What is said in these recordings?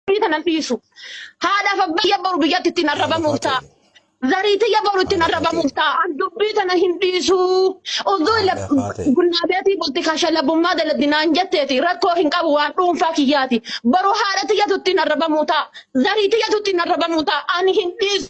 Biyyi kana hin dhiisu. Haadhaaf abbayya boru biyyatti ittiin Kana arrabamuuf ta'a. fakkaate. Zariitiyya boru ittiin Kana arrabamuuf fakkaate. ta'a. An dubbii kana hin dhiisu. Odoo Kana lab- fakkaate. gunnaa beetii bulti kasha labbummaa dalagdi naan jetteeti. Rakkoo hin qabu waan dhuunfaa kiyyaati. Boru haadha tiyyatu ittiin arrabamuu ta'a. Zariitiyyatu ittiin arrabamuu ta'a. Ani hin dhiisu.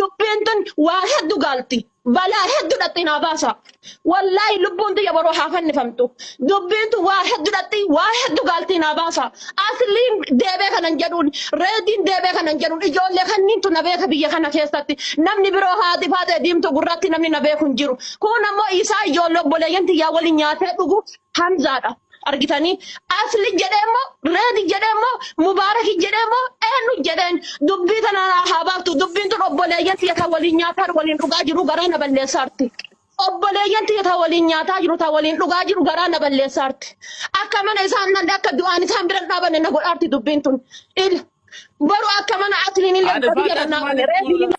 Dubbiin tun waa heddu gaalti. Balaa heddu dhatti naa baasa. Wallaahi lubbuun tiyya boroo haa fannifamtu. Dubbiin tun waa heddu dhatti waa heddu gaalti naa baasa. Asliin deebee kanan jedhuun reediin deebee kanan jedhuun ijoollee kanniintu na beeka biyya kana keessatti. Namni biroo haati faatee diimtuu gurraatti namni na beeku hin jiru. Kun ammoo isaa ijoollee obboleeyyan tiyyaa waliin nyaatee dhugu Hamzaadha. argitanii asli jedhee moo reedi jedhee moo mubaaraki jedhee moo eenyu jedheen dubbii tana naa haa baaftu dubbiin tun obboleeyyan tiyya ta waliin nyaataan waliin dhugaa jiru garaa na balleessaarti obboleeyyan tiyya ta waliin nyaataa jiru ta waliin dhugaa jiru garaa na balleessaarti akka mana isaan nan akka du'aan isaan biran dhaabanne na godhaarti dubbiin tun il baru akka mana asliin illee Haadha isaa biyya irraa akkasumaan naafame reedi jechuudha.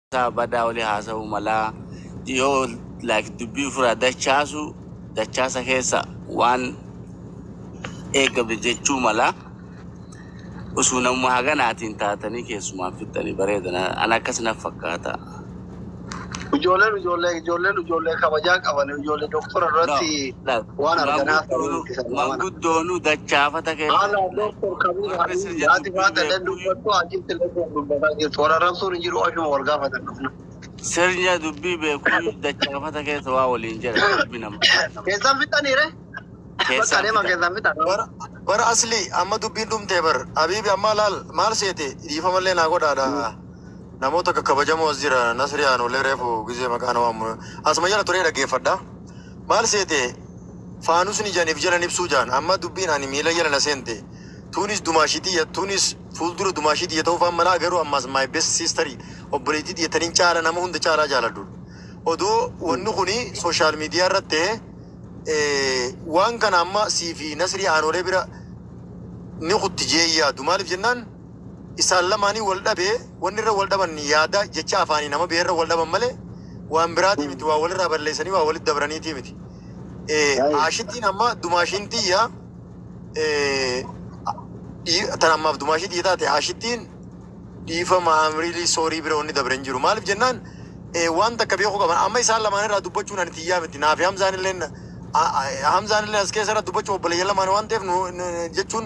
Isaa badaa oli haasa'uu malaa yoo like dubbii ufiraa dachaasu dachaasa keessa waan eegamne jechuu malaa usuu namuma haganaatiin taatanii keessumaan fixxanii bareeda na- an akkas naf fakkaata. Ijoolleen ijoollee ijoolleen ijoollee kabajaa qabani ijoollee doktora no irratti Waan arganaa saree itti salaamanaa. Manguddoonu dachaafata keessan warri sir jedhan hin beekuuyu. Sirnya dubbii beekuuyu dachaafata keessa waa waliin jedhan rabbi nama haa dhabu. Keessaan fixan. Bar asli amma dubbiin dhumtee bar habibi amma laal maal seete dhiifamallee naa godhaadha namoota kakkabajamoo as jira nasri aanuulee reefu gizee maqaa na waammu asuma jala turee dhaggeeffadha. Maal seete faanusni jan if jalan ibsuu jaan amma dubbiin ani miila jala na seente tuunis dumaashii tiyya tuunis fuuldura dumaashii tiyya ta'uu faan malaa garuu ammaas my best sister obboleettii tiyya tanin caala nama hunda caalaa jaaladhu odoo wanni kuni social media irratti ta'e eh, waan kana amma sii fi nasrii aanoolee bira ni kutti jee yaadu maaliif jennaan isaan lamaanii wal dhabe, wanni irra wal dhaban yaada, jecha afaanii nama biyya irra wal dhaban malee waan biraatii miti, waa walirraa balleessanii waa walitti dabraniitii miti. Eh, Baay'ee. Aashitiin amma dumaashiin tiyya eh, dhii- tan ammaaf dumaashii tiyya taate aashittiin dhiifama amriilii soorii bira wanni dabre hin jiru. Maaliif jennaan eh, waan takka beekuu qaban amma isaan lamaan irraa dubbachuun ani tiyyaa miti naafi hamzaan illee hamzaan illee as keessa irra dubbachuu obboleeyyan lamaan waan ta'eef nu- nu- jechuun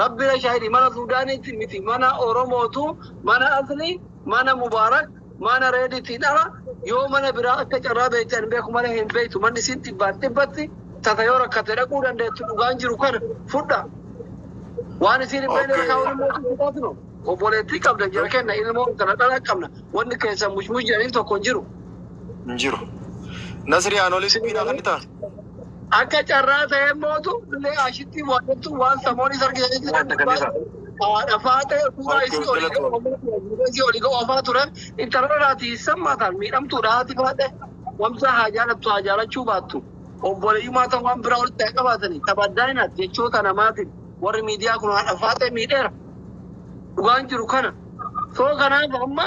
Rabbira shahidi mana sudaniti miti mana oromotu mana asli mana mubarak mana rediti dhala yoo mana biraa akka carraa beekte ani beeku malee hin beektu manni isin dhibbaan dhibbatti tasa yoo rakkate dhaquu dandeettu dhugaan jiru kana fudha waan isiin hin beekne irra kaa'uun immoo isin fudhaatino obboleettii qabda jira kenna ilmoo intala dhala qabna wanni keessan mushmush jedhaniin tokko hin jiru hin jiru nasri anoolee dubbiin akan ni ta'a Akka carraa ta'ee mootu illee ashitti mo'attu waan samoon isa argisiisu jira. Wanta kan isa. Haadha faatee fuula Okkee isii oli galatoo. fuula isii oli oofaa ture. Intala irraati sammataan miidhamtuudha haati faatee. Wamsaa haa jaalattu haa jaalachuu baattu. Obboleeyyummaa ta'uu waan biraa walitti haa qabaatanii. Tabaddaaina jechoota namaatiin warri miidiyaa kun haadha faatee miidheera. Dhugaan jiru kana. Soo kanaaf amma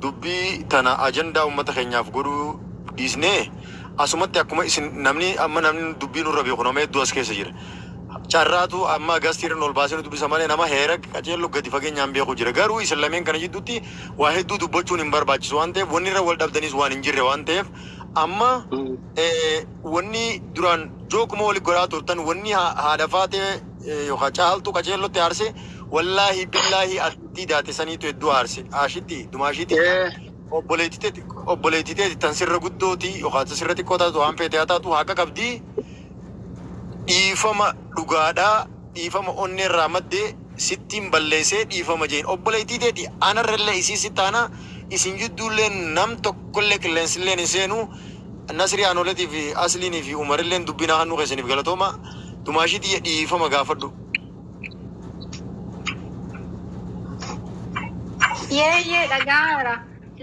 Dubbii tana ajandaa ummata keenyaaf godhuu dhiisnee asumatti akkuma isin namni amma namni dubbii nurra beeku nama hedduu as keessa jira. Carraatu amma gaazitiirra nu ol baasee nu dubbisa malee nama heerag qaceello gadi fageenyaan beeku jira. Garuu isin lameen kana jidduutti waa hedduu dubbachuun hin barbaachisu waan ta'eef wanni irra wal dhabdaniis waan hin jirre waan ta'eef amma wanni duraan jookuma wali godhaa turtan wanni haadha faatee yookaan caaltuu qaceellotti aarse wallaahi billaahi tii daate saniitu hedduu aarse aashitti dumaashii tiyya obboleetti teeti obboleetti teeti tan sirra guddoo tii yookaan tan sirra xiqqoo taatu waan feete haa taatu haa qaqabdii dhiifama dhugaadhaa dhiifama onnee irraa madde sittiin balleessee dhiifama jeein obboleettii teeti anarrallee isii si taana isin jidduulleen nam tokkollee qilleensilleen hin seenu Nasrii Aanoletii fi Asliinii fi Umarilleen dubbii naa kannuu keessaniif galatooma dumaashii tiyya dhiifama gaafadhu. Yeeyyee dhaga'aara.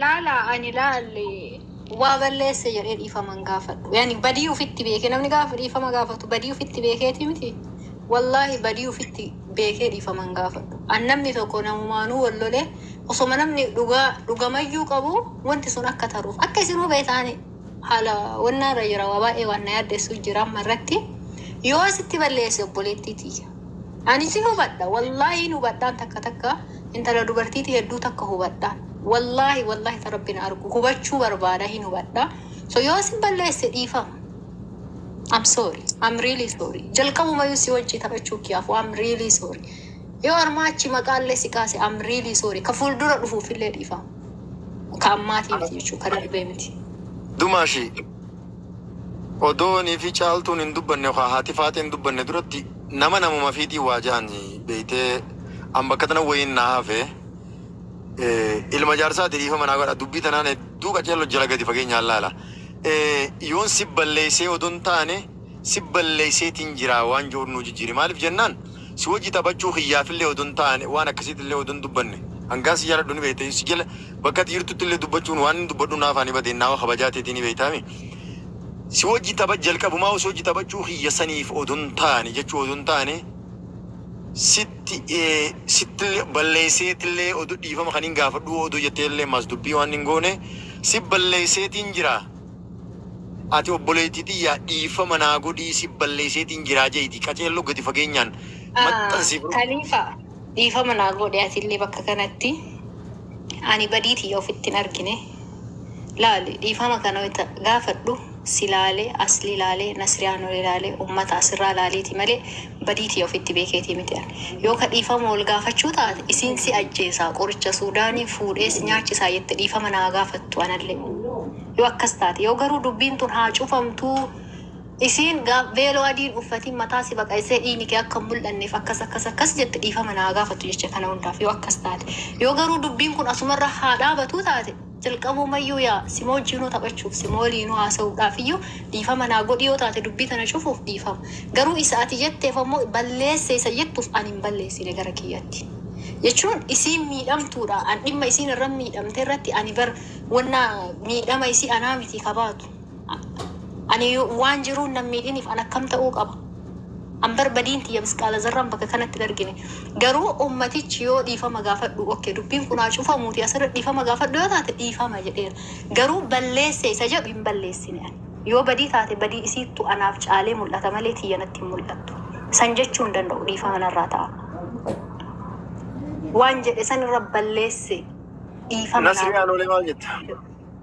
Laala ani laalle waa balleesse jedhee dhiifama hin gaafadhu. Yani badii ufitti beekee namni gaafa dhiifama gaafatu badii ufitti beekeeti miti. Wallaahi badii ufitti beekee dhiifama hin gaafadhu. An namni tokko namumaanuu wal lolee osoma namni dhugaa dhugamayyuu qabu wanti sun akka taruuf akka isinuu beetaani. Haala onnaa irra jira waa baay'ee waan na yaaddessu jira amma irratti yoo sitti balleesse obboleettii tiyya ani sin hubadha wallaahi hin hubadhaan takka takka intala dubartiiti hedduu takka hubadhaan wallaahi wallaahi ta rabbi na argu hubachuu barbaada hin hubadha so yoo sin balleesse dhiifama I'm sorry. I'm really sorry. Jalqabumayyuu si wajjii taphachuu kiyaafu I'm really sorry. Yoo armaa achi maqaallee si kaase I'm really sorry. Ka fuuldura dhufuufillee dhiifama. Ka ammaatii miti jechuudha. Ka darbee miti. Dumaashi odoonii fi caaltuun hin dubbanne yookaan haati faaxee hin dubbanne duratti nama namuma fiitii waa ja'an beeytee an bakka tana wayiin naa hafe eh, ilma jaarsaati dhiifama naa godha dubbii tanaan hedduu qaceello jala gadi fageenyaan laala Eh, yoon si balleessee odoon taane si balleesseetiin jira waan je'uun nuu jijjiiri. Maaliif jennaan si wajji taphachuu kiyyaafillee odoo hin taane waan akkasiitillee odoo hin dubbanne hangaan si jaaladhu ni beeyta. Si jala bakka ati jirtuttillee dubbachuun waanin dubbadhu naaf haa ni bade innaawa kabajaa teetii ni beeytaami. Si wajji tapha jalqabumaahuu si wajji taphachuu kiyya saniif odoo hin taane jechuu odoo hin taane sitti sittillee balleesseetillee odoo dhiifama kaniin gaafadhuu odoo jetteellee maas dubbii waan hin goone si balleesseetiin jira. Ati obboleeytii tiyya dhiifama naa godhii si balleeyseetiin jiraa jeeyti qaceello gadi fageenyaan maxxansii bro. Kalifa dhiifama naa goodhi atillee bakka kanatti ani badii tiyya ofitti hin argine laali dhiifama kana wayta gaafadhu si laale asli laale nasriyaa nuri laale ummata asirraa laaleeti malee Badii tiyya ofitti beekeetii miti ani. Yoo ka dhiifama wal gaafachuu taate, isiin si ajjeesaa, qoricha Suudaanii fuudhee si nyaachisaa jette dhiifama na haa gaafattu anallee. Yoo akkas taate. Yoo garuu dubbiin tun haa cufamtuu, isiin gaaf veeloo adii hin uffatiin mataa si baqaysee dhiiyni kee akka hin mul'anneef akkas akkas akkas jette dhiifama na haa gaafattu jecha kana hundaaf yoo akkas taate. Yoo garuu dubbiin kun asumarra haa dhaabatuu taate. Jalqabumayyuu yaa sima wajjiinuu taphachuuf, sima waliinuu haasa'uudhaafiyyuu dhiifama naa godhi yoo taate dubbii tana cufuuf dhiifama. Garuu isa ati jetteef ammoo balleesse isa jettuuf ani hin balleessine gara kiyyatti. Jechuun isiin miidhamtuudha. An dhimma isiin irra miidhamte irratti ani bar wanna miidhama isii anaa mitii ka baatu. Ani waan jiruun nan miidhiniif an akkam ta'uu qaba? An bar badiin tiyya misqaala zarraan bakka kanatti hin argine. Garuu ummatichi yoo dhiifama gaafadhu ok dubbiin kun haa cufamuuti asirra dhiifama gaafadhu yoo taate dhiifama jedheera. Garuu balleesse isa jedhu hin balleessine ani. Yoo badii taate badii isiittu anaaf caalee mul'ata malee tiyya natti hin mul'attu. San jechuu hin danda'u dhiifama narraa ta'a. Waan jedhe sanirra balleesse dhiifama Nasrii naaf Aanolee maal jetta?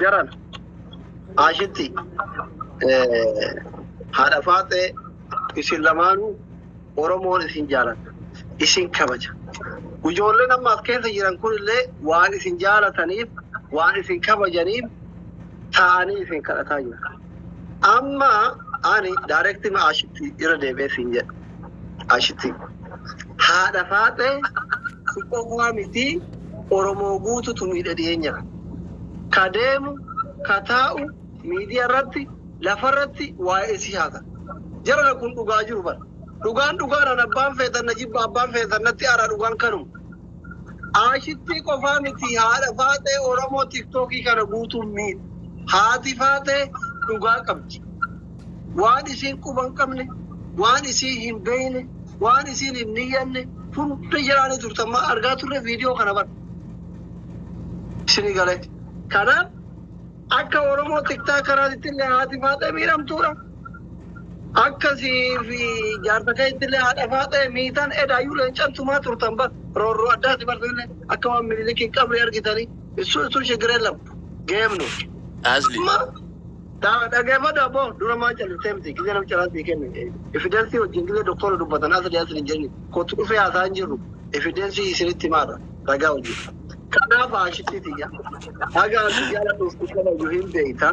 Jaran ashitti haadha faaxee isin lamaanuu Oromoon isin jaalata. Isin kabaja. Ijoolleen amma as keessa jiran kunillee waan isin jaalataniif, waan isin kabajaniif taa'anii isin kadhataa jiru. Amma ani direct ma ashitti irra deebi'ee siin jedha. Ashitti haadha faaxee si qofaa miti Oromoo guututu miidhe dhiyeenya kana. Ka deemu ka taa'u miidiya irratti lafa irratti waa'ee si haasa. Jarana kun dhugaa jiru bara. Dhugaan dhugaadhaan abbaan feetan na jibba abbaan feetan natti aaraa dhugaan kanuma. Aashittii qofaa miti haadha faaxee oromoo tiktookii kana guutuun miidha. Haati faaxee dhugaa qabdi. Waan isiin quba hin qabne, waan isiin hin beeyne, waan isiin hin niyyanne hunda jalaani turte amma argaa turre viidiyoo kana bar. Isinii galee. Kanaaf akka oromoo tiktaa kanaatitti illee haati faaxee miidhamtuudha. Akka sii fi jaarsa keettillee haadha faaxee miitan edaayyuu leencan tumaa turtan bar roorroo addaati bar sillee akka waan minilikiin qabrii argitanii issu issu shigiree lam game nu. Asli. Ma da dhageeffadhu abbo dura maa callistee miti gizee nam caraa sii kenne efideensii wajjin gizee doktoora dubbatan asli asli hin jenni kootu dhufee haasaa hin jirru efideensii isinitti himaarra ragaa wajjin. Kanaaf haashittii tiyya haga ati jaaladhuuf si kabaju hin beeyta.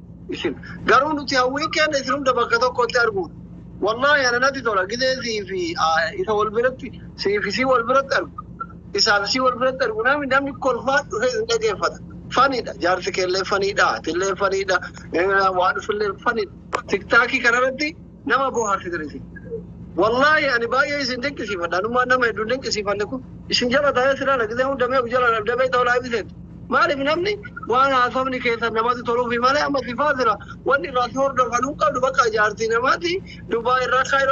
isin. Garuu nuti hawwiin keenya isin hunda bakka tokkotti arguudha. Wallaahi ana natti tola gizee sii fi isa wal biratti sii fi sii wal biratti argu. Isaa fi sii wal biratti argu namni namni kolfaa dhufee isin dhageeffata. Faniidha jaarsi keellee faniidha atillee faniidha waan dhufillee faniidha. Tiktaakii kanarratti Nama bohaarti gari isin. Wallahi ani baay'ee isin dinqisiifadha. Anummaan nama hedduun dinqisiifanne kun isin jala taa'ee si laala gisee hunda mee of jala dhabdee beekta olaa ibiseen. Maaliif namni waan haasofni keessan namatti toluufi malee amma sifaa sila wanni irraa si hordofan hin qabdu bakka jaartii namaati Dubaay irraa Kaayiroo